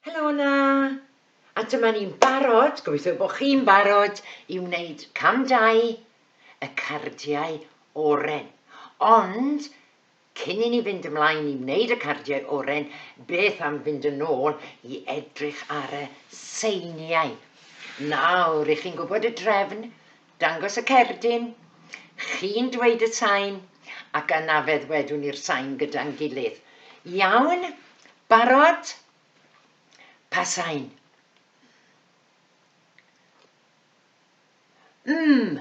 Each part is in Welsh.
Helo yna! A dyma ni'n barod, gobeithio bod chi'n barod i wneud cam dau y cardiau oren. Ond Cyn i ni fynd ymlaen i wneud y cardiau oren, beth am fynd yn ôl i edrych ar y seiniau. Nawr, rych chi'n gwybod y drefn, dangos y cerdyn, chi'n dweud y sain, ac yna fe ddwedwn ni'r sain gyda'n gilydd. Iawn? Barod? Pa sain? Mm.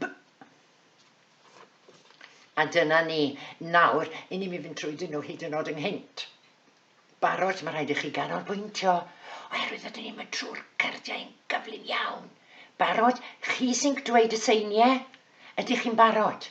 B. A dyna ni. Nawr, i ni mynd trwy dyn nhw hyd yn oed ynghynt. Barod, mae rhaid i chi ganolbwyntio, oherwydd ydyn ni'n mynd trwy'r cardiau yn gyflym iawn. Barod, chi sy'n dweud y seiniau? Ydych chi'n barod?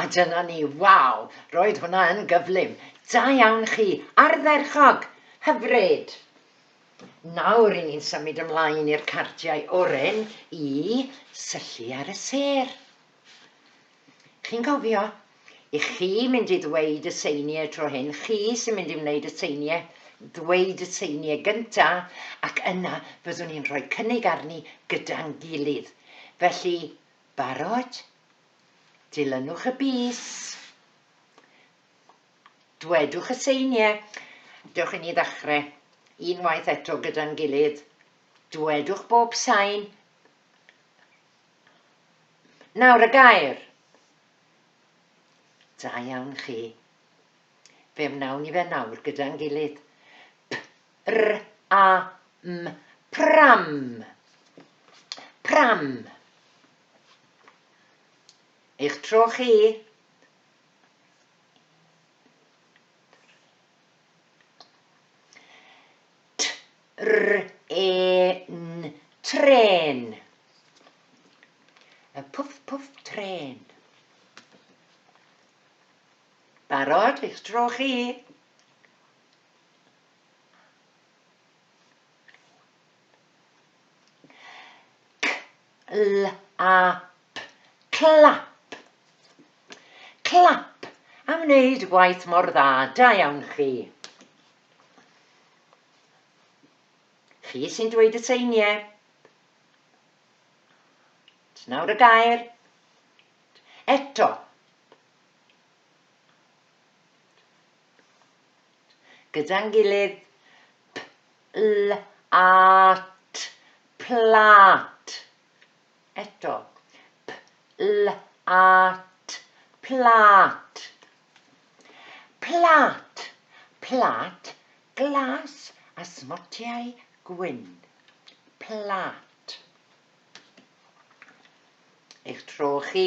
A dyna ni, waw, roedd hwnna yn gyflym! Da iawn chi, ardderchog! Hyfryd! Nawr ry'n ni'n symud ymlaen i'r cardiau oren i syllu ar y sêr. Chi'n cofio? I chi mynd i ddweud y seiniau tro hyn, chi sy'n mynd i wneud y seiniau, ddweud y seiniau gynta, ac yna fyddwn ni'n rhoi cynnig arni gyda'n gilydd. Felly, Barod? Dilynwch y bys. Dwedwch y seiniau. Dewch i ni ddechrau. Unwaith eto gyda'n gilydd. Dwedwch bob sain. Nawr y gair. Da iawn chi. Fe wnawn ni fe nawr gyda'n gilydd. R-a-m, pram, pram. Eich tro chi. T-r-e-n, tren. Y pwff pwff tren. Barod, eich tro chi. Clap, clap, clap am wneud y gwaith mor dda, da iawn chi. Chi sy'n dweud y seiniau. Nawr y gair. Eto. gyda'n gilydd, p-l-a-t, plât. Eto, p-l-a-t, plât. Plât, plât glas a smotiau gwyn. Plât. Eich tro chi.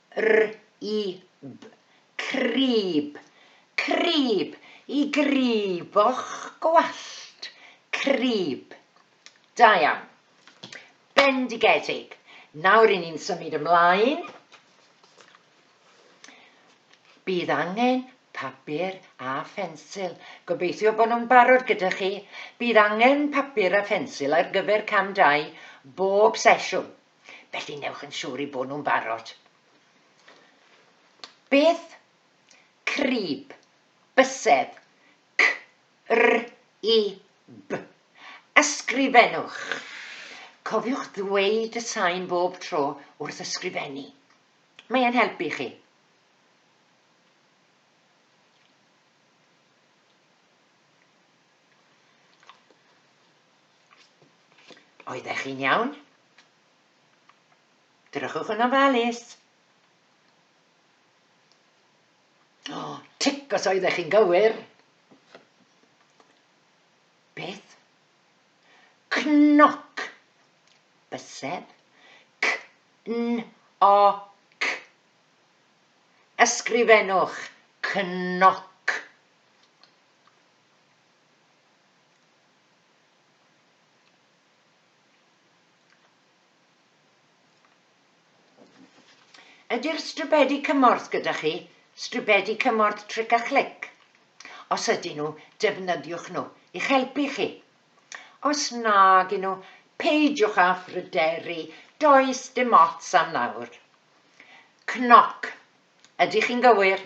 R-i-b, crib, crib, i gribo'ch gwallt, crib. Da iawn. Bendigedig. Nawr ry'n ni'n symud ymlaen. Bydd angen papur a phensil. Gobeithio bod nhw'n barod gyda chi. Bydd angen papur a phensil ar gyfer cam 2 bob sesiwn. felly newch yn siwr i bod nhw'n barod. Beth? Crib, bysedd, c, r, i, b. Ysgrifennwch. Cofiwch ddweud y sain bob tro wrth ysgrifennu. Mae e'n helpu chi. Oeddech chi'n iawn? Drychwch yn ofalus. O, oh, tic os oeddech chi'n gywir. Beth? Cnoc. Bysedd. C-n-o-c. Ysgrifennwch cnoc. Ydy'r stribedi cymorth gyda chi? Stribedi cymorth tric a chlic? Os ydyn nhw, defnyddiwch nhw i'ch helpu chi. Os nag nhw, peidiwch â phryderu, does dim ots am nawr. Cnoc, ydych chi'n gywir?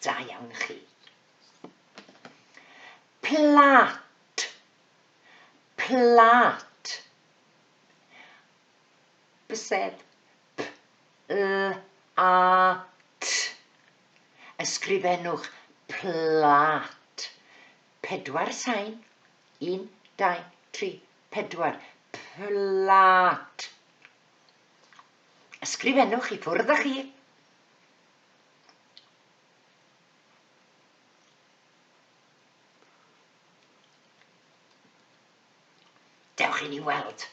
Da iawn chi. Plat. Plat. Bysedd. P, l, a, t. Ysgrifennwch plat. Pedwar sain. Un, dau, tri, 4, Plât. Ysgrifennwch i ffwrdd â chi. Dewch i ni weld.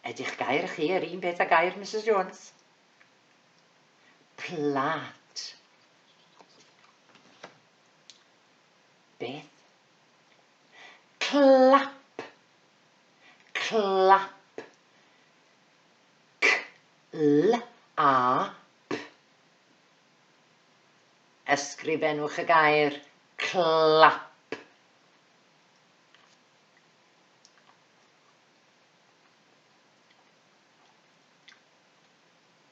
Ydych gair chi yr un beth a gair Mrs Jones? Plat. Beth? Clap. Clap. C, l, a, p. Ysgrifennwch y gair clap.